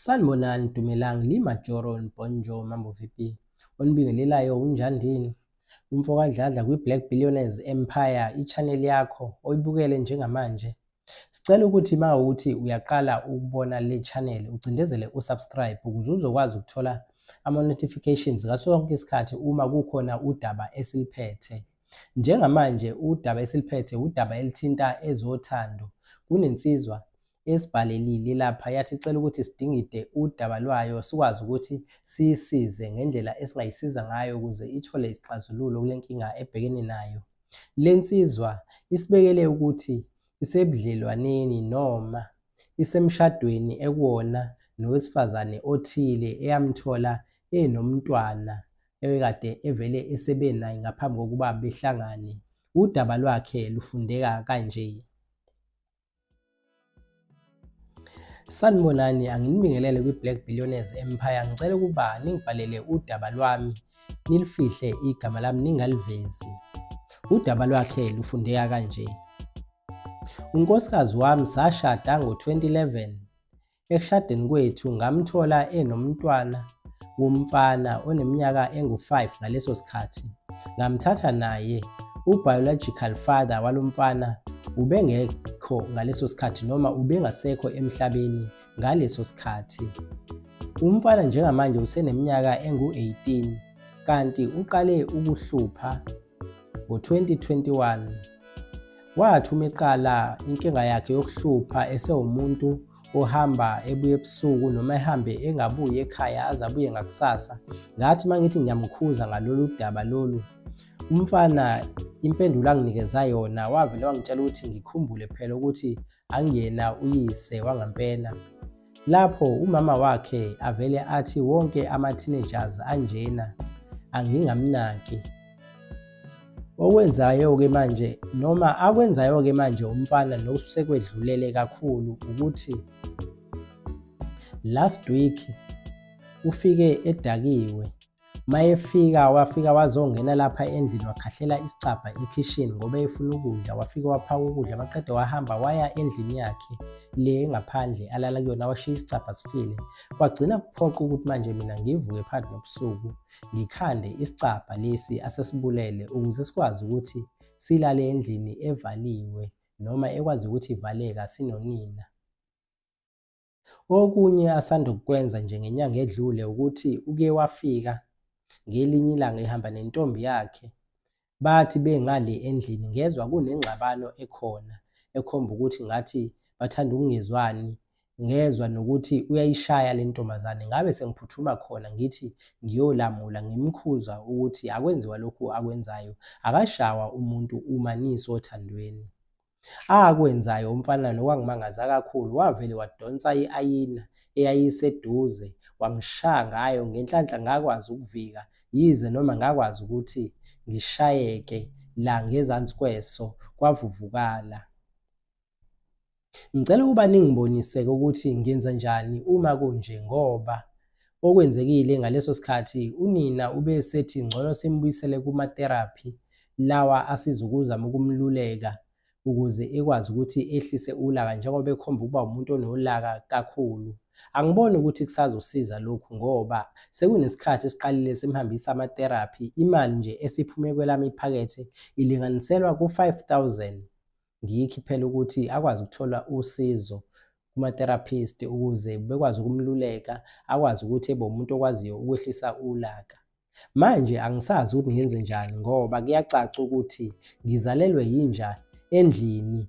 Sanibonani Dumelang li Majoro Bonjo Mambo VP onibingelelayo unjandini umfo kadladla kwi Black Billionaires Empire i-channel yakho oyibukele njengamanje Sicela ukuthi uma uthi uyaqala ukubona le channel ucindezele usubscribe ukuze uzokwazi ukuthola ama-notifications ngaso sonke isikhathi uma kukhona udaba esiliphethe. Njengamanje udaba esiliphethe udaba elithinta ezothando. Kunensizwa esibhalelile lapha yathi icela ukuthi sidingide udaba lwayo sikwazi ukuthi siyisize ngendlela esingayisiza ngayo ukuze ithole isixazululo kule nkinga ebhekene nayo. Le nsizwa isibekele ukuthi isebudlelwaneni noma isemshadweni ekuwona nowesifazane othile eyamthola enomntwana ebekade evele esebe naye ngaphambi kokuba behlangane. Udaba lwakhe lufundeka kanje. Sanibonani, anginibingelele kwi-Black Billionaires Empire. Ngicela ukuba ningibhalele udaba lwami, nilifihle igama lami ningalivezi. Udaba lwakhe lufundeka kanje. Unkosikazi wami sashada ngo-2011. Ekushadeni kwethu ngamthola enomntwana womfana oneminyaka engu-5 ngaleso sikhathi. Ngamthatha naye. U-biological father walo mfana ubengekho ngaleso sikhathi noma ubengasekho emhlabeni ngaleso sikhathi. Umfana njengamanje useneminyaka engu-18 kanti uqale ukuhlupha Ngo-2021, wathi uma eqala inkinga yakhe yokuhlupha esewumuntu ohamba ebuye ebusuku noma ehambe engabuyi ekhaya aze abuye ngakusasa ngathi uma ngithi ngiyamkhuza ngalolu daba lolu umfana impendulo anginikeza yona wavele wangitshela ukuthi ngikhumbule phela ukuthi angiyena uyise wangampela lapho umama wakhe avele athi wonke ama-teenagers anjena angingamnaki okwenzayo-ke manje noma akwenzayo-ke manje umfana nokusekwedlulele kakhulu ukuthi last week ufike edakiwe mayefika wafika wazongena lapha endlini wakhahlela isicabha ekhishini ngoba efuna ukudla wafika waphaka ukudla maqede wahamba waya endlini yakhe le ngaphandle alala kuyona washiya isicabha sifile kwagcina kuphoqa ukuthi manje mina ngivuke phakathi nobusuku ngikhande isicabha lesi asesibulele ukuze sikwazi ukuthi silale endlini evaliwe noma ekwazi ukuthi ivaleka sinonina Okunye asanda kukwenza nje ngenyanga edlule ukuthi uke wafika ngelinye ilanga ehamba nentombi yakhe. Bathi bengale endlini ngezwa kunengxabano ekhona ekhomba ukuthi ngathi bathanda ukungezwani ngezwa nokuthi uyayishaya le ntombazane ngabe sengiphuthuma khona ngithi ngiyolamula ngimkhuza ukuthi akwenziwa lokhu akwenzayo akashawa umuntu uma nisothandweni Akwenzayo umfana lo wangimangaza kakhulu wavele wadonsa i-ayina eyayiseduze wangishaya ngayo ngenhlanhla ngakwazi ukuvika yize noma ngakwazi ukuthi ngishayeke la ngezansi kweso kwavuvukala. Ngicela ukuba ningiboniseke ukuthi ngenza njani uma kunje ngoba Okwenzekile ngaleso sikhathi unina ube sethi ngcono simbuyisele kuma-therapy lawa asiza ukuzama ukumluleka ukuze ekwazi ukuthi ehlise ulaka njengoba ekhomba ukuba umuntu onolaka kakhulu. Angiboni ukuthi kusazosiza lokhu ngoba sekunesikhathi esiqalile simhambisa ama-therapy, imali nje esiphume kwelami iphakethe ilinganiselwa ku-5000. ngiyikhiphela ukuthi akwazi ukuthola usizo kuma-therapist ukuze bekwazi ukumluleka akwazi ukuthi ebe umuntu okwaziyo ukwehlisa ulaka manje angisazi ukuthi ngenze njani ngoba kuyacaca ukuthi ngizalelwe yinja endlini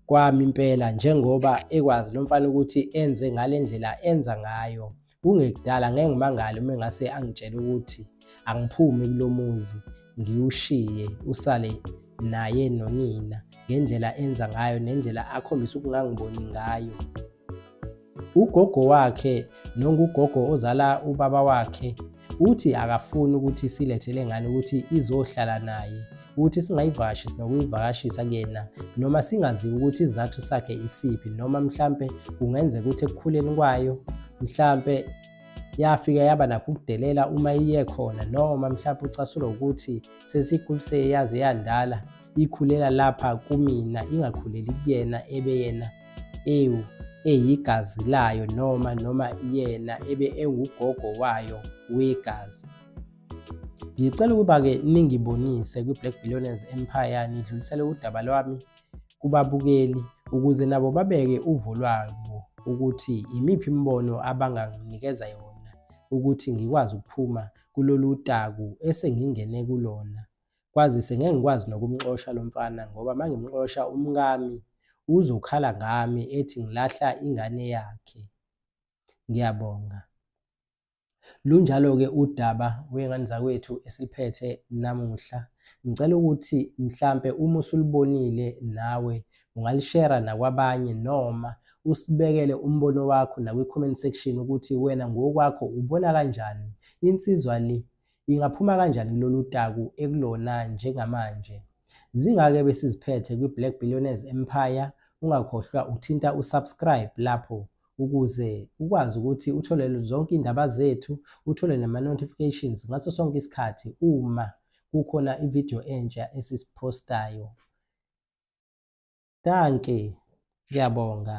kwami impela njengoba ekwazi lo mfana ukuthi enze ngale ndlela enza ngayo kungekudala ngeke ngimangale uma engase angitshele ukuthi angiphumi kulo muzi ngiwushiye usale naye nonina ngendlela enza ngayo nendlela akhombisa ukungangiboni ngayo ugogo wakhe nongugogo ozala ubaba wakhe uthi akafuni ukuthi silethe lengane ukuthi izohlala naye ukuthi singayivashi sinokuyivakashisa kuyena noma singaziwa ukuthi izathu sakhe isiphi noma mhlampe kungenzeka ukuthi ekukhuleni kwayo mhlampe yafika yaba nakho ukudelela uma iye khona noma mhlampe ucasulwa ukuthi sesikhuliswe yaze yandala ikhulela lapha kumina ingakhuleli kuyena ebe yena ewu eyigazi layo noma noma yena ebe engugogo wayo wegazi Ngicela ukuba-ke ningibonise kwi-Black Billionaires Empire nidlulisele udaba lwami kubabukeli ukuze nabo babeke uvo lwabo ukuthi imiphi imibono abanganginikeza yona ukuthi ngikwazi ukuphuma kulolu taku esengingene kulona kwazise ngeke ngikwazi nokumxosha lo mfana ngoba uma ngimxosha umkami uzokhala ngami ethi ngilahla ingane yakhe ngiyabonga Lunjalo-ke udaba wey'ngane zakwethu esiliphethe namuhla. Ngicela ukuthi mhlampe uma usulibonile nawe ungalishera nakwabanye noma usibekele umbono wakho nakwi-comment section ukuthi wena ngokwakho ubona kanjani insizwa le ingaphuma kanjani kulolu taku ekulona njengamanje. Zingake besiziphethe kwi-Black Billionaires Empire, ungakhohlwa ukuthinta u-subscribe lapho ukuze ukwazi ukuthi uthole zonke iy'ndaba zethu uthole nama-notifications ngaso sonke isikhathi uma kukhona ividiyo entsha esisiphostayo danke ngiyabonga